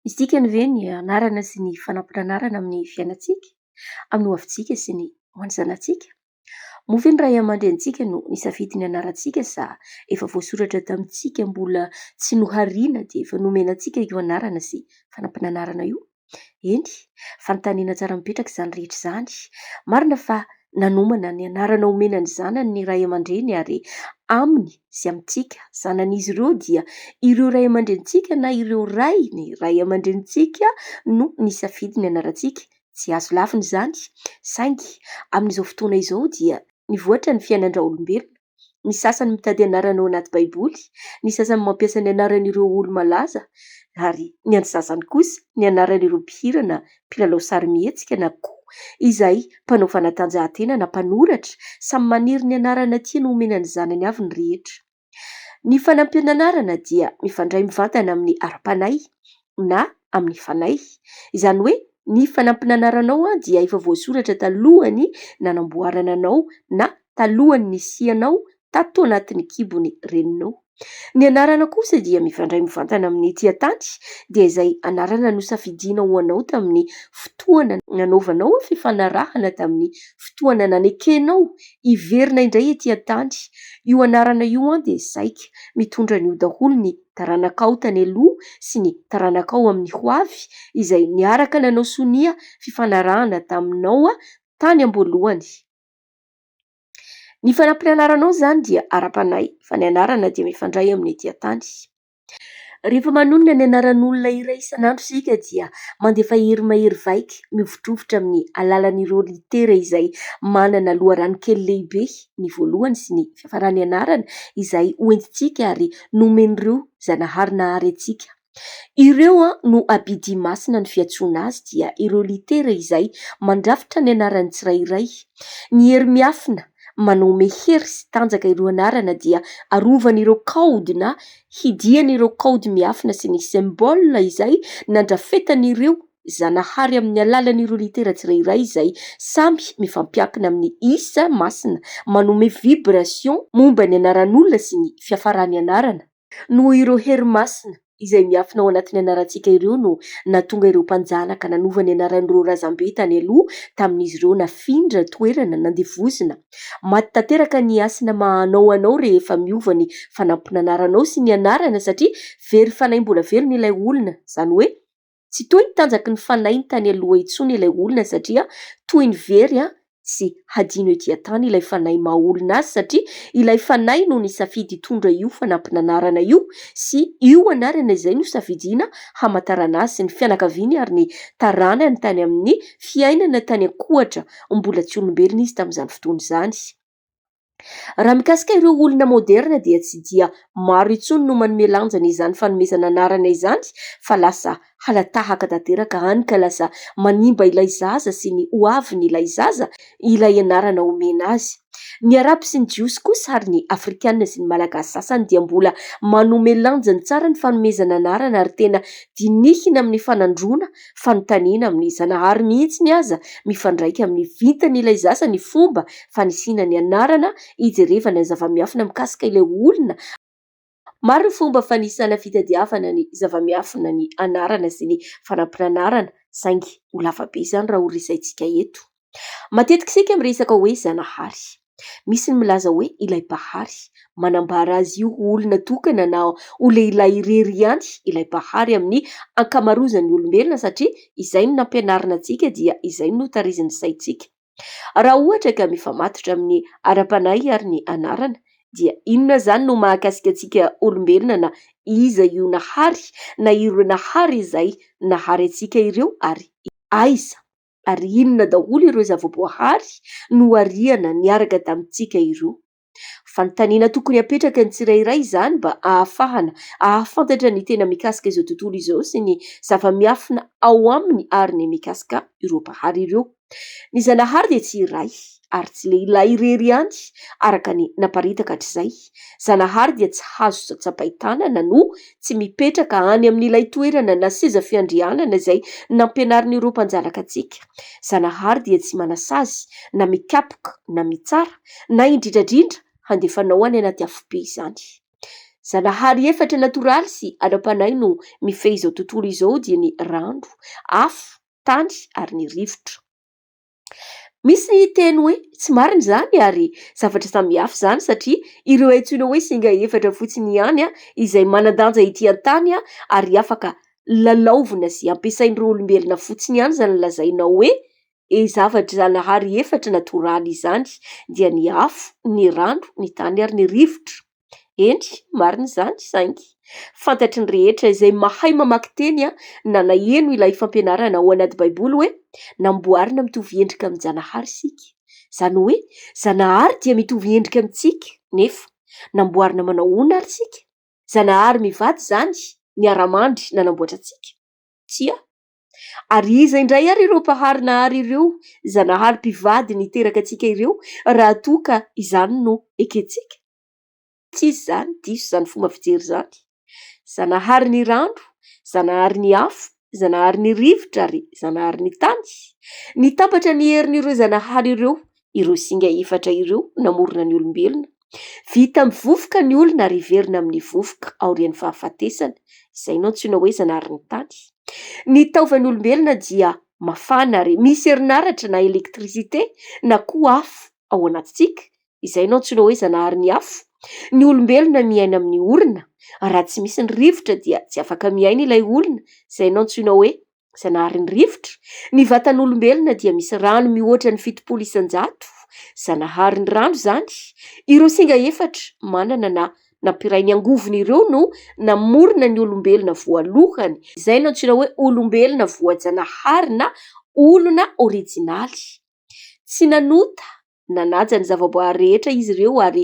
Misy dikany ve ny anarana sy ny fanampin'anarana amin'ny fiainantsika, amin'ny hoavintsika sy ny ho an'ny zanatsika? Moa ve ny ray aman-drenintsika no nisafidy ny anarantsika sa efa voasoratra tamintsika mbola tsy nohariana dia efa nomena antsika io anarana sy fanampin'anarana io? Eny, fanontaniana tsara mipetraka izany rehetra izany. Marina fa nanomana ny anarana omena ny zanany ny ray aman-dreny ary aminy sy amintsika zanan'izy ireo dia ireo ray aman-drenintsika na ireo ray ny ray aman-drenintsika no nisafidy ny anarantsika. Tsy azo lavina izany, saingy amin'izao fotoana izao dia nivoatra ny fiainan-dRaolombelona. Ny sasany mitady anarana ao anaty Baiboly, ny sasany mampiasa ny anaran'ireo olo-malaza, ary ny antsasany kosa ny anaran'ireo mpihirana, mpilalao sarimihetsika na koa izay mpanao fanatanjahantena na mpanoratra. Samy maniry ny anarana tiany homena ny zanany avy ny rehetra. Ny fanampian'anarana dia mifandray mivantana amin'ny ara-panahy, na amin'ny fanahy. Izany hoe ny fanampin'anaranao dia efa voasoratra talohan'ny nanamboarana anao na talohan'ny nisianao tato anatin'ny kibon'ny reninao. Ny anarana kosa dia mifandray mivantana amin'ny ety an-tany dia izay anarana nosafidiana ho anao tamin'ny fotoana nanaovanao fifanarahana tamin'ny fotoana nanekenao hiverina indray ety an-tany. Io anarana io dia saika mitondra an'io daholo ny taranakao tany aloha sy ny taranakao amin'ny hoavy izay niaraka nanao sonia fifanarahana taminao tany am-boalohany. Ny fanampiny anaranao izany dia ara-panahy fa ny anarana dia mifandray amin'ny dia tany. Rehefa manonona ny anaran'olona iray isan'andro isika dia mandefa hery mahery vaika mihovitrovitra amin'ny alalan'ireo litera izay manana loharano kely lehibe ny voalohany sy ny fiafaran'ny anarana izay hoentintsika ary nomen'ireo Zanahary nahary antsika. Ireo no abidia masina ny fiantsoana azy dia ireo litera izay mandrafitra ny anaran'ny tsirairay. Ny hery miafina manome hery sy tanjaka ireo anarana dia arovan'ireo kaody na hidian'ireo kaody miafina sy ny symbole izay nandrafetan'ireo Zanahary amin'ny alalan'ireo litera tsirairay izay samy mifampiankina amin'ny isa masina manome vibration momba ny anaran'olona sy ny fiafaran'ny anarana. Noho ireo hery masina izay miafina ao anatin'ny anarantsika ireo no nahatonga ireo mpanjanaka nanova ny anaran'ireo razambe tany aloha tamin'izy ireo nafindra toerana nandevozina. Maty tanteraka ny hasina maha anao anao rehefa miova ny fanampin'anaranao sy ny anarana satria very fanahy mbola velona ilay olona, izany hoe, Tsy toy ny tanjaky ny fanahy tany aloha intsony ilay olona satria toy ny very tsy hadino ety an-tany ilay fanahy maha olona azy satria ilay fanahy no nisafidy hitondra io fanampin'anarana io sy io anarana izay nosafidiana hamantarana azy sy ny fianakaviany ary ny taranany tany amin'ny fiainana tany an-kohatra mbola tsy olombelona izy tamin'izany fotoana izany. Raha mikasika ireo olona moderina dia tsy dia maro intsony no manome lanjany izany fanomezana anarana izany fa lasa hala-tahaka tanteraka any ka lasa manimba ilay zaza sy ny ho avin' ilay zaza ilay anarana omena azy. Ny Arabo sy ny Jiosy kosa ary ny Afrikana sy ny Malagasy sasany dia mbola manome lanjany tsara ny fanomezana anarana ary tena dinihina amin' ny fanandroana fanontaniana amin'ny Zanahary mihitsiny aza mifandraika amin'ny vintan'ilay zaza ny fomba fanisiana ny anarana hijerevana ny zava-miafina mikasika ilay olona Maro ny fomba fanisana fitadiavana ny zava-miafina ny anarana sy ny fanampin'anarana saingy ho lavabe izany raha ho resahintsika eto. Matetika isika miresaka hoe Zanahary. Misy ny milaza hoe ilay Mpahary. Manambara azy io ho olona tokana na ho lehilahy irery ihany ilay Mpahary amin'ny ankamarozan'ny olombelona satria izay no nampianarina antsika dia izay no notarizin'ny saintsika. Raha ohatra ka mifamatotra amin'ny ara-panahy ary ny anarana dia inona izany no mahakasika antsika olombelona na iza io Nahary na ireo Nahary izay nahary antsika ireo ary aiza? ary inona daholo ireo zava-boahary nohariana niaraka tamintsika ireo? Fanontaniana tokony hapetraka ny tsirairay izany mba ahafahana ahafantatra ny tena mikasika izao tontolo izao sy ny zava-miafina ao aminy ary ny mikasika ireo Mpahary ireo. Ny Zanahary dia tsy iray. ary tsy lehilahy irery ihany araka ny naparitaka hatrizay. Zanahary dia tsy hazo tsatsapain-tanana no tsy mipetraka any amin'ilay toerana na seza fiandrianana izay nampianarin'ireo mpanjanaka antsika. Zanahary dia tsy manasazy na mikapoka na mitsara na indrindradrindra handefanao any anaty afobe izany. Zanahary efatra natoraly sy ara-panahy no mifehy izao tontolo izao dia ny rano, afo, tany ary ny rivotra. Misy ny hiteny hoe tsy marina izany ary zavatra samihafa izany satria ireo antsoina hoe singa efatra fotsiny ihany izay manan-danja ety an-tany ary afaka lalaovina sy ampiasain'ireo olombelona fotsiny ihany izany lazainao hoe zavatra zanahary efatra natoraly izany dia ny afo, ny rano, ny tany ary ny rivotra. Eny, marina izany, saingy fantatry ny rehetra izay mahay mamaky teny na naheno ilay fampianarana ao anaty Baiboly hoe namboarina mitovy endrika amin-janahary isika. Izany hoe Zanahary dia mitovy endrika amintsika, nefa namboarina manao ahoana àry isika? Zanahary mivady izany niara-mandry nanamboatra antsika? Tsia. Ary iza indray ary ireo Mpahary nahary ireo Zanahary mpivady niteraka antsika ireo raha toa ka izany no ekentsika? Tsy izy izany, diso izany fomba fijery izany. Zanahary ny rano, Zanahary ny afo, Zanahary ny rivotra ary Zanahary ny tany. Nitambatra ny herin'ireo Zanahary ireo ireo singa efatra ireo namorona ny olombelona. Vita amin'ny vovoka ny olona ary hiverina amin'ny vovoka aorian'ny fahafatesana. Izay no antsoina hoe zanarin'ny tany. Ny taovan'ny olombelona dia mafana ary misy herinaratra na électricité na koa afo ao anatintsika. Izay no antsoina hoe zanaharin'ny afo. Ny olombelona miaina amin'ny orona. Raha tsy misy ny rivotra dia tsy afaka miaina ilay olona. Izay no antsoina hoe Zanaharin'ny rivotra, ny vatan'olombelona dia misy rano mihoatra ny fitopolo isan-jato zanaharin'ny rano izany, ireo singa efatra manana na nampiray ny angovony ireo no namorona ny olombelona voalohany, izay no antsoina hoe olombelona voajanahary na olona orijinaly. Tsy nanota Nanaja ny zavaboary rehetra izy ireo ary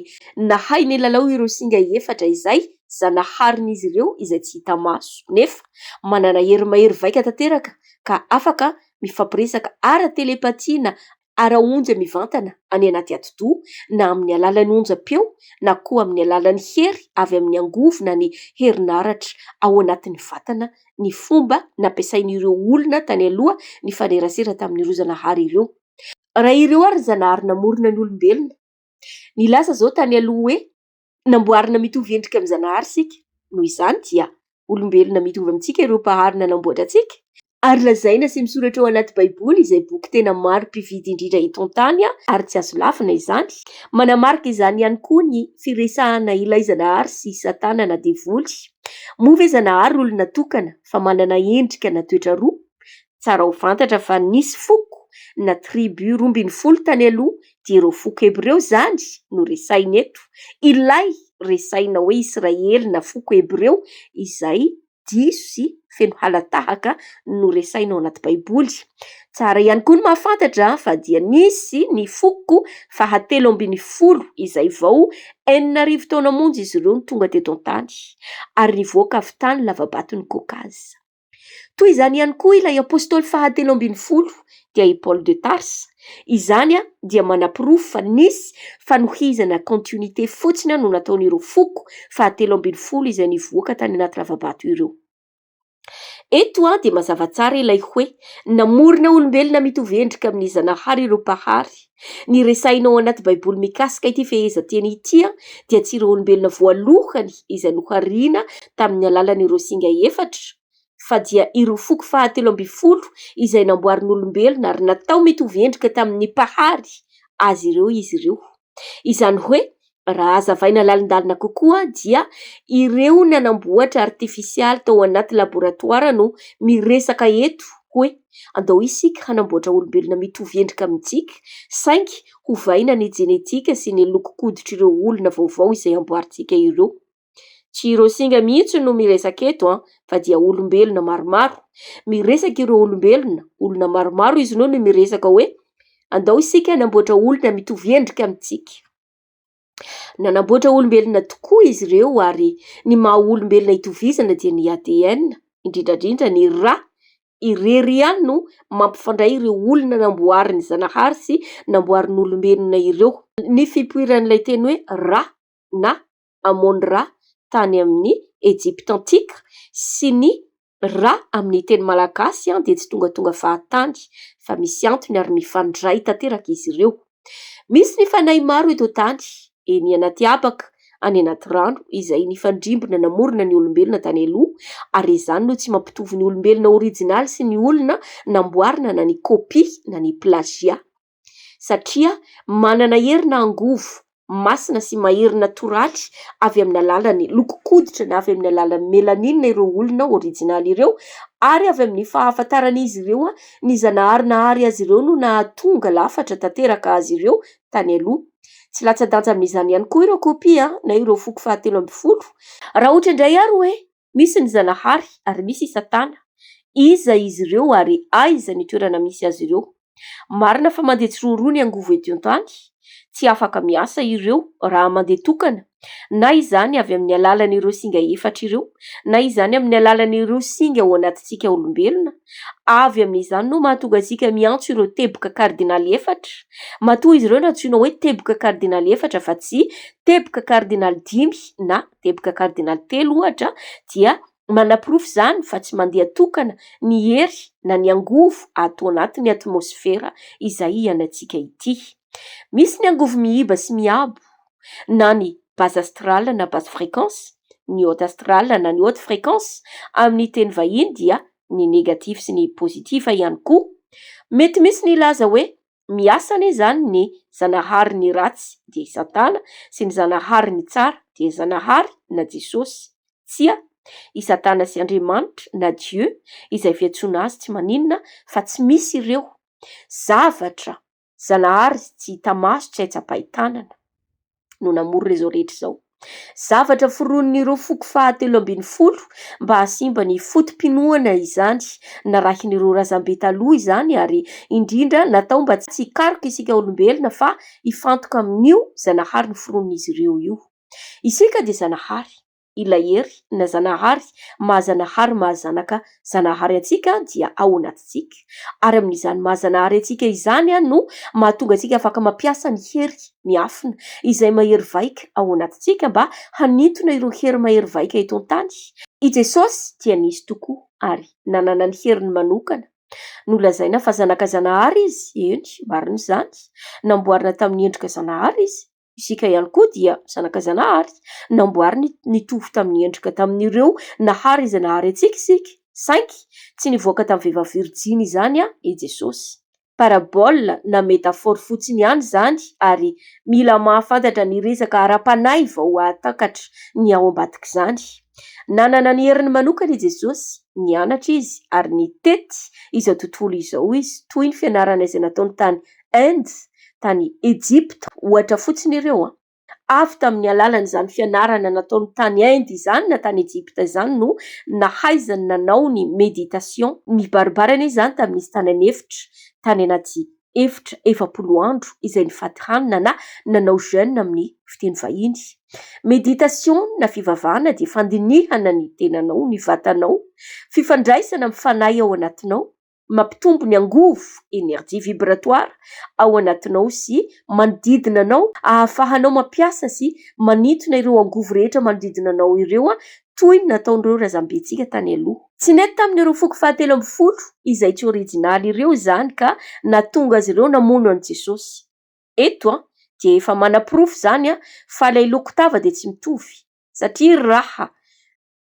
nahay nilalao ireo singa efatra izay zanaharin'izy ireo izay tsy hita maso, nefa manana hery mahery vaika tanteraka ka afaka mifampiresaka ara-telepatia na ara-onja mivantana any anaty atidoha na amin'ny alalan'ny onjam-peo na koa amin'ny alalan'ny hery avy amin'ny angovo na ny herinaratra ao anatin'ny vatana, ny fomba nampiasain'ireo olona tany aloha nifanerasera tamin'ireo zanahary ireo. Raha ireo ary ny Zanahary namorona ny olombelona. Nilaza izao tany aloha hoe namboarina mitovy endrika amin'ny Zanahary isika. Noho izany dia olombelona mitovy amintsika ireo Mpahary nanamboatra antsika. Ary lazaina sy misoratra ao anaty Baiboly izay boky tena maro mpividy indrindra eto an-tany ary tsy azo lavina izany. Manamarika izany ihany koa ny firesahana ilay Zanahary sy Satana na Devoly. Moa ve Zanahary olona tokana fa manana endrika na toetra roa? Tsara ho fantatra fa nisy foko na tribu roa ambin'ny folo tany aloha dia ireo foko hebreo izany no resahina eto, ilay resahina hoe Israely na foko hebreo izay diso sy feno hala-tahaka no resahina ao anaty baiboly. Tsara ihany koa ny mahafantatra fa dia nisy ny foko fahatelo ambin'ny folo izay vao enina arivo taona monja izy ireo no tonga teto an-tany ary nivoaka avy tany lavabaton'i Kaokaza. Toy izany ihany koa ilay apostoly fahatelo ambin'ny folo dia i Paoly de Tarsa. Izany dia manaporofo fa nisy fanohizana continuité fotsiny no nataon'ireo foko fahatelo ambin'ny folo izay nivoaka tany anaty lava-bato ireo. Eto dia mazava tsara ilay hoe namorona olombelona mitovy endrika amin'ny Zanahary ireo Mpahary. Ny resahina ao anaty Baiboly mikasika ity fehezanteny ity dia tsy ireo olombelona voalohany izay nohariana tamin'ny alalan'ireo singa efatra fa dia ireo foko fahatelo ambin'ny folo izay namboarin'olombelona ary natao mitovy endrika tamin'ny Mpahary azy ireo izy ireo. Izany hoe Raha hazavaina lalindalina kokoa dia ireo nanamboatra artifisialy tao anaty laboratoara no miresaka eto hoe andao isika hanamboatra olombelona mitovy endrika amintsika saingy hovaina ny jenetika sy ny lokon-koditr' ireo olona vaovao izay amboarintsika ireo. Tsy ireo singa mihitsy no miresaka eto fa dia olombelona maromaro. Miresaka ireo olombelona, olona maromaro izy ireo no miresaka hoe andao isika hanamboatra olona mitovy endrika amintsika. Nanamboatra olombelona tokoa izy ireo ary ny maha olombelona itovizana dia ny ADN, indrindra indrindra ny rà. Irery ihany no mampifandray ireo olona namboarin'Izagnahary sy namboarin'olombelona ireo. Ny fipoiran'ilay teny hoe rà na Amon Ra tany amin'ny Ejipta antika sy ny Ra amin'ny teny malagasy dia tsy tongatonga fahatany fa misy antony ary mifandray tanteraka izy ireo. Misy ny fanahy maro eto an-tany, eny anaty habaka, any anaty rano izay nifandrimbona namorona ny olombelona tany aloha ary izany no tsy mampitovy ny olombelona orijinaly sy ny olona namboarina na ny kopia na ny plazia. satria manana hery na angovo masina sy mahery natoraly avy amin'ny alalan'ny lokon-koditra na avy amin'ny alalan'ny melanina ireo olona orijinaly ireo ary avy amin'ny fahafantaran'izy ireo ny zanahary nahary azy ireo no nahatonga lafatra tanteraka azy ireo tany aloha. Tsy latsa-danja amin'izany ihany koa ireo kopia na ireo foko fahatelo ambin'ny folo raha ohatra indray ary hoe Misy ny Zanahary ary misy i Satana. Iza izy ireo ary aiza ny toerana misy azy ireo? Marina fa mandeha tsiroroa ny angovo ety an-tany. Tsy afaka miasa ireo raha mandeha tokana, na izany avy amin'ny alalan'ireo singa efatra ireo, na izany amin'ny alalan'ireo singa ao anatintsika olombelona. Avy amin'izany no mahatonga antsika miantso ireo teboka kardinaly efatra. Matoa izy ireo no antsoina hoe teboka kardinaly efatra fa tsy teboka kardinaly dimy na teboka kardinaly telo ohatra dia manaporofo izany fa tsy mandeha tokana ny hery na ny angovo ato anatin'ny atmosfera izay ianantsika ity. Misy ny angovo mihiba sy miabo na ny base astrale na base fréquence, ny haute astrale na ny haute fréquence amin'ny teny vahiny dia ny négatif sy ny positif ihany koa. Mety misy ny hilaza hoe Miasa anie izany ny zanahary ny ratsy dia i satana sy ny zanahary ny tsara dia zanahary na jesosy. Tsia. I satana sy Andriamanitra na Dieu izay fiantsoana azy tsy maninona fa tsy misy ireo. Zavatra. Zanahary tsy hita maso tsy hay tsapain-tanana. no namorona izao rehetra izao. Zavatra foronin'ireo foko fahatelo ambin'ny folo mba hahasimba ny foto-pinoana izany. Narahin'ireo razambe taloha izany ary indrindra natao mba tsy hikaroka isika olombelona fa hifantoka amin'io Zanahary noforonin'izy ireo io. Isika dia Zanahary. ilay Hery na Zanahary maha-Zanahary maha-Zanaka Zanahary antsika dia ao anatintsika, ary amin'izany maha-Zanahary antsika izany no mahatonga antsika afaka mampiasa ny hery miafina izay mahery vaika ao anatintsika mba hanintona ireo hery mahery vaika eto an-tany. I Jesosy dia nisy tokoa ary nanana ny heriny manokana. Nolazaina fa Zanaka Zanahary Izy, eny, marina izany, namboarina tamin'ny endrika Zanahary Izy, Isika ihany koa dia zanaka Zanahary, namboariny nitovy tamin'ny endrika tamin'ireo nahary izay nahary antsika isika, saingy tsy nivoaka tamin'ny vehivavy virjiny izany i Jesosy. Parabole na métaphore fotsiny ihany izany ary mila mahafantatra ny resaka ara-panahy vao hahatakatra ny ao ambadik'izany. Nanana ny heriny manokana i Jesosy, nianatra izy ary nitety izao tontolo izao izy, toy ny fianarana izay nataony tany Inde, tany Ejipta ohatra fotsiny ireo. Avy tamin'ny alalan'izany fianarana nataony tany Inde izany na tany Ejipta izany no nahaizany nanao ny méditation. Nibaribary anie izany tamin'izy tany an'efitra, tany anaty efitra efapolo andro izay nifady hanina na nanao jeûne amin'ny fiteny vahiny. Méditation na fivavahana dia fandinihana ny tenanao, ny vatanao, fifandraisana amin'ny fanahy ao anatinao, mampitombo ny angovo, énergie vibratoire, ao anatinao sy manodidina anao, ahafahanao mampiasa sy manintona ireo angovo rehetra manodidina anao ireo toy ny nataon'ireo razambentsika tany aloha. Tsy nety tamin'ireo foko fahatelo ambin'ny folo izay tsy orijinaly ireo izany ka nahatonga azy ireo namono an'i Jesosy. Eto dia efa manaporofo izany fa ilay loko tava dia tsy mitovy, satria raha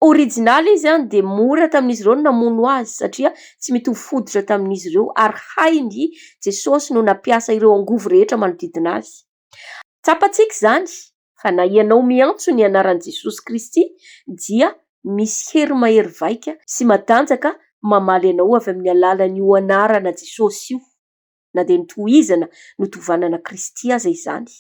Original izy dia mora tamin'izy ireo ny namono azy satria tsy mitovy hoditra tamin'izy ireo ary hainy i Jesosy no nampiasa ireo angovo rehetra manodidina azy. Tsapantsika izany fa na ianao miantso ny anaran'i Jesosy Kristy dia misy hery mahery vaika sy matanjaka mamaly anao avy amin'ny alalan'io anarana Jesosy io. na dia notohizana notovanana Kristy aza izany.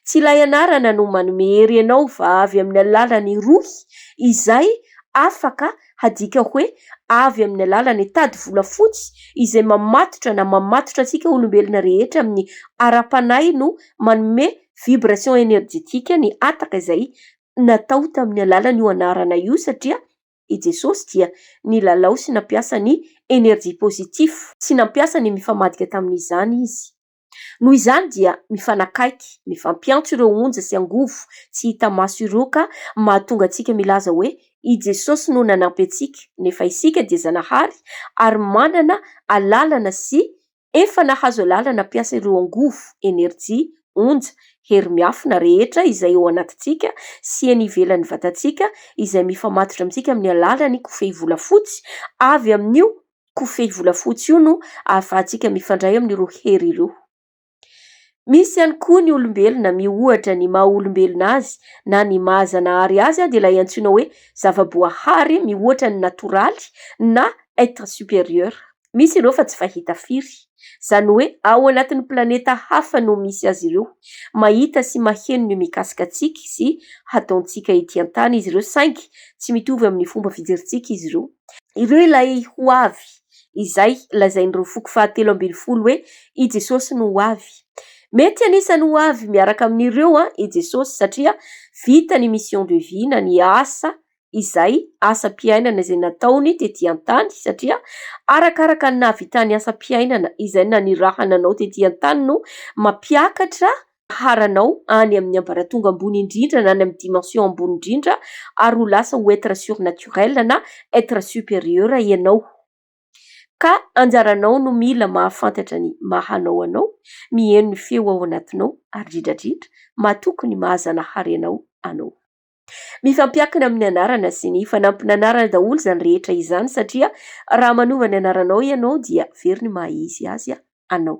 Tsy ilay anarana no manome hery anao fa avy amin'ny alalan'ny Rohy izay afaka hadika hoe avy amin'ny alalan'ny tady volafotsy izay mamatotra na mamatotra antsika olombelona rehetra amin'ny ara-panahy no manome vibration energetique ny hataka izay natao tamin'ny alalan'io anarana io satria i Jesosy dia nilalao sy nampiasa ny énergie positive sy nampiasa ny mifamadika tamin'izany izy. Noho izany dia mifanakaiky, mifampiantso ireo onja sy angovo tsy hita maso ireo ka mahatonga antsika milaza hoe i Jesosy no nanampy antsika nefa isika dia zanahary ary manana alalana sy Efa nahazo alalana hampiasa ireo angovo, enerjia, onja, herimiafina rehetra izay ao anatintsika sy eny ivelan'ny vatantsika izay mifamatotra amintsika amin'ny alalan'ny kofehy volafotsy, avy amin'io kofehy volafotsy io no ahafahantsika mifandray amin'ireo hery ireo. Misy ihany koa ny olombelona miohatra ny maha olombelona azy na ny maha zanahary azy dia ilay antsoina hoe zava-boahary mihoatra ny natoraly na être supérieur. Misy ireo fa tsy fahita firy. Izany hoe ao anatin'ny planeta hafa no misy azy ireo. Mahita sy maheno ny mikasika antsika sy hataontsika ety an-tany izy ireo saingy tsy mitovy amin'ny fomba fijerintsika izy ireo. Ireo ilay ho avy, izay lazain'ireo foko fahatelo ambin'ny folo hoe i Jesosy no ho avy. Mety anisan'ny ho avy miaraka amin'ireo i Jesosy satria vita ny mission de vie na ny asa izay asam-piainana izay nataony tetỳ an-tany, satria arakaraka ny nahavitany asam-piainana izay nanirahana anao tetỳ an-tany no mampiakatra ny fiharanao any amin'ny ambaratonga ambony indrindra na any amin'ny dimension ambony indrindra ary ho lasa ho être surnaturel na être supérieur ianao. Ka anjaranao no mila mahafantatra ny maha anao anao, miheno ny feo ao anatinao ary indrindra indrindra matoky ny maha-Zanahary anao anao. Mifampiankina amin'ny anarana sy ny fanampin'anarana daholo izany rehetra izany satria raha manova ny anaranao ianao dia very ny maha izy azy anao.